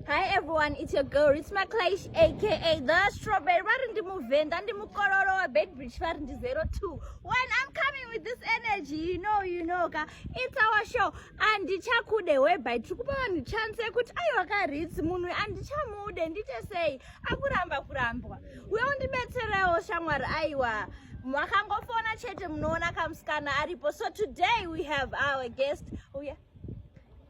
Hi everyone, it's your girl Ritsma Klaish aka The Strawberry. Vari ndi muvenda ndi mukororo wa Beitbridge vari ndi 02. When I'm coming with this energy, you know, you know ka. It's our show. Andichakude whereby tiri kupa vanhu chance yekuti aiwa ka Rits munhu andichamude ndite sei akuramba kurambwa. Uye undibetserewo shamwari aiwa. Makangofona chete munoona kamusikana aripo. So today we have our guest. Oh yeah.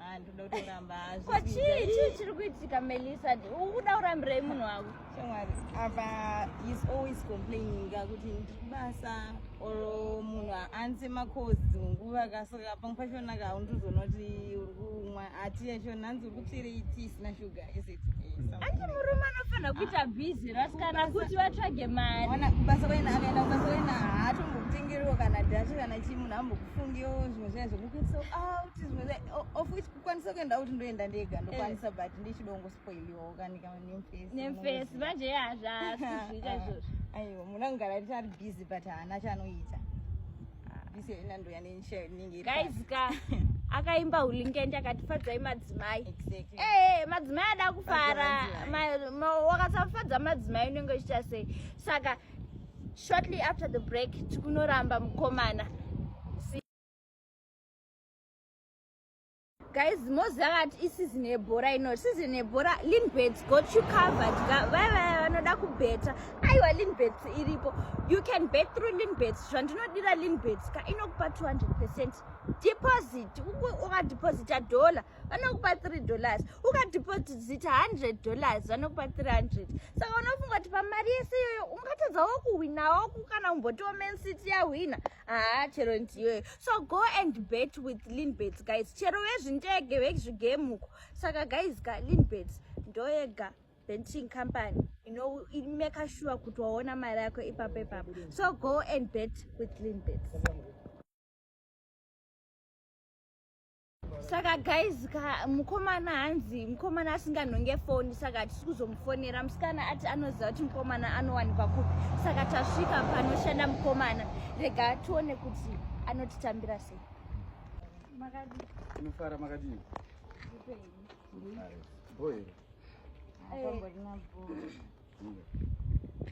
Ah, ndoda kutoramba hazvo. Ko chii chii chiri kuitika Melissa? Ukuda kurambirei munhu wako? Shamwari, apa he's always complaining kuti ndiri kubasa or munhu haanze makozi nguva kasaka pamwe pachona ka undizoona kuti uri kumwa ati yachona hanzi uri kutsvira iti isina shuga. Anti murume anofanira kuita busy rasikana kuti vatsvage mari. Ona kubasa kwena akaenda kubasa kwena haatombokutengerewo kana data kana chii munhu ambokufungiwo zvimwe zvaye zvekukuitisa out zvimwe zvaye of which kukwanisa kuenda out ndoenda ndega ndokwanisa eh. but ndichidongo spoiliwawo kanika nemfesi. Nemfesi manje yazvaa kuzviita izvozvo. Aiwa munhu anogara ati ari busy but haana chanoita. Bisi ina ndo yanisha ningi. Guys ka akaimba ulingende akatifadzai madzimai. Exactly. Eh, madzimai ada kufara. Wakasafadza madzimai unenge uchiita sei? Saka shortly after the break tikunoramba mukomana. guys moziva vati isizini yebhora ino sizini yebhora linbet got you covered vaya vaya vanoda kubheta aiwa linbet iripo you can bet through linbet zvandinodira linbet ka inokupa 200 percent deposit ukadeposita dollar vanokupa 3 dollars ukadeposita 100 dollars vanokupa 300 saka unofunga kuti pamari yese iyoyo ungatadzawo kuhwinawo kana kumbotiwo mancity yahwina haa chero ndiwe so go and bet with linbets guys chero vezvindege vezvigame uko saka guys ka linbets ndoyega benching company inomeka ino shuwa kuti waona mari yako ipapo ipapo so go and bet with linbets saka guys ka mukomana hanzi mukomana asinganhonge foni saka hatisi kuzomufonera musikana ati anoziva kuti mukomana anowanikwa kupi saka tasvika panoshanda mukomana rega tione kuti anotitambira sei makadiinofara makadii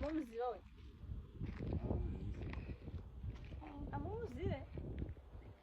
momuziva uyu amuuzive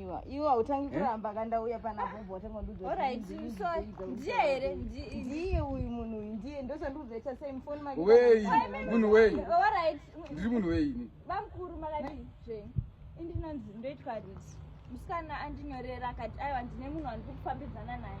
Iwa, iwa utangi eh? kuramba kana uya pana bombo watanga ndudzo. All right, so ndiye here? Ndiye uyu munhu uyu ndiye ndosandudza cha same phone manje. Wei, munhu wei. All right. Ndiri munhu wei ini. Bamkuru makati zve. Indinonzi ndoitwa rich. Musikana andinyorera akati aiwa ndine munhu wandiri kufambidzana naye.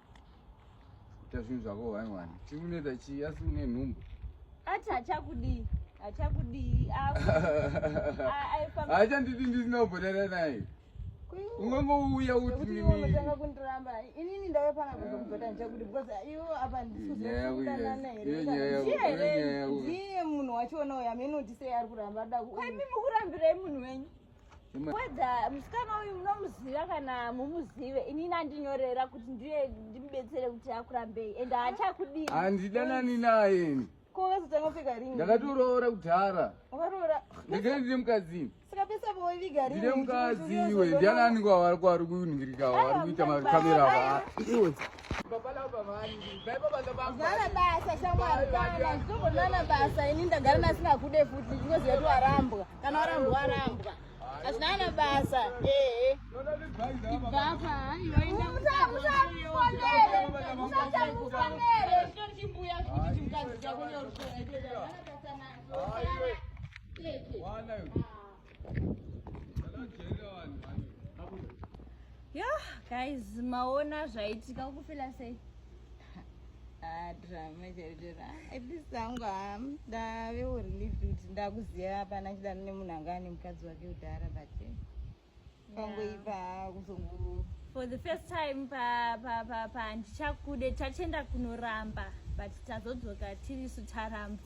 Ita zvinhu zvako one one. Chikuneta chii asi une nhumbu. Ati hachakudii. Hachakudii. Haachandidi ndisina kubhodana naye. Ungangouya uti nini. Unotanga kundiramba. Inini ndave pana kuzomubhoda ndichakudi because iwo apa ndisizokutandana here. Ndiye munhu wacho unoya meno ndise ari kuramba daku. Kwai mimi kurambirei munhu wenyu. weda musikana uyu munomuziva kana mumuzive inini andinyorera kuti ndiye ndimubetsere kuti akurambei and haachakudii handidanani naye ndakatoroora kudhara ndikene ndine mukadzini ndine mukadzi iwe ndiani aninge wavari kuuningirika wavari kuita makamera ava Zana basa shamwari kana zvichobonana basa ini ndagara nasina kude futi ndinoziva kuti warambwa kana warambwa warambwa hazvinana basa ehe ibvapa yo guys maona zvaitika kufila sei ah, drama chaitira at least angu ham ndave urelieved kuti ndakuziva hapana chidano nemunhu anga ane mukadzi wake kudhara but eh. pangoipa haa kuzongu for the first time pa pa pa pa ndichakude tachenda kunoramba but tazodzoka tirisu taramba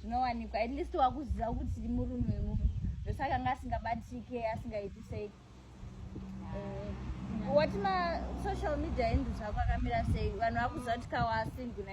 zvinowanikwa at least wakuziva kuti murume munhu ndosaka anga asingabatike asingaiti sei eh, wati ma social media endu zvako akamira sei vanhu vakuziva kuti kawasinguna